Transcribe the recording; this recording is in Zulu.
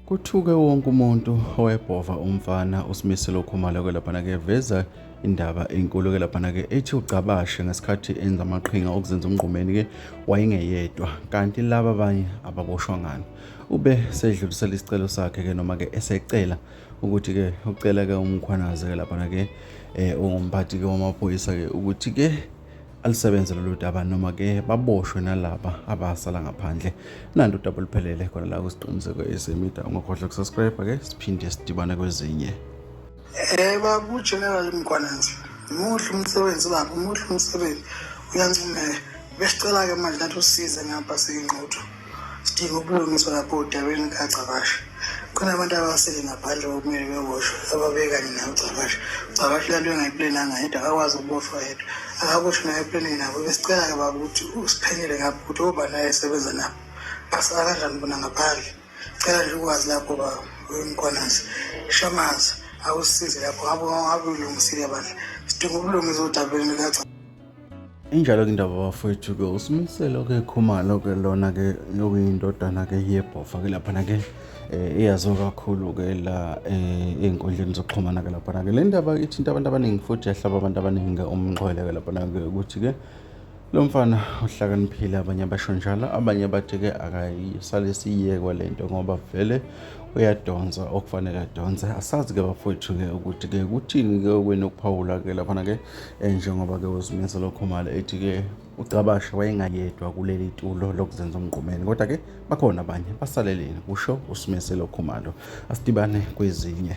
Kuthuke wonke umuntu owebhova umfana uSimiselo Khumalo ke laphana ke veza indaba enkulu ke laphana ke ethi ugcabashe ngesikhathi enza amaqhinga okuzenza umngqumeni ke wayengeyedwa kanti laba abanye ababoshwa ngani ube sedlulisela isicelo sakhe ke noma ke esecela ukuthi ke ucela ke umkhwanaze ke laphana ke eh ungumphathi ke wamaphoyisa ke ukuthi ke alisebenze lolu daba noma ke baboshwe nalaba abasala ngaphandle nanto udaba oluphelele khona la kusiqiniseko esemida ungakhohlwa kusubscribe ke siphinde sidibane kwezinye eh babu general mkwanenzi muhle umsebenzi baba muhle umsebenzi uyancumeka besicela ke manje nathi usize ngapha siyingqotho sidinga ubulungiswa lapho udabeni kagcabashe kunabantu abasele ngaphandle kokumele bewoshwe ababekanye naye ugcabashe ugcabashe lanto engayiplenanga yedwa akakwazi ukuboshwa yedwa akakusho naye eplenini nabo besicela-ke baba ukuthi usiphenyele ngapho ukuthi oba naye esebenza nabo basala kanjani bona ngaphandle cela nje ukwazi lapho baba uyimkwanasi shamaza awusize lapho ngabe ngabe ulungisile bandla sidinga ubulungiswa odabeni likagcabashe Injalo-ke indaba bafowethu-ke uSimiselo-ke Khumalo-ke lona-ke okuyindodana-ke yebhofa-ke laphana-ke eh, eyaziwa kakhulu-ke la eh, ey'nkundleni zokuxhumana-ke laphana-ke le ndaba ithinta abantu abaningi futhi yahlaba abantu abaningi-ke umxhwele-ke laphana-ke ukuthi-ke lo mfana uhlakaniphile abanye abasho njalo abanye bathi-ke akayisale siyekwa le nto ngoba vele uyadonsa okufanele adonse asazi-ke bafowethu-ke ukuthi-ke kuthini-ke okwenu ukuphawula-ke laphana-ke Eh, njengoba ke uzimisa lokho mali ethi ke ucabashe wayengayedwa kuleli tulo lokuzenza umgqumeni kodwa ke bakhona abanye basaleleni kusho usimiselo khumalo asidibane kwezinye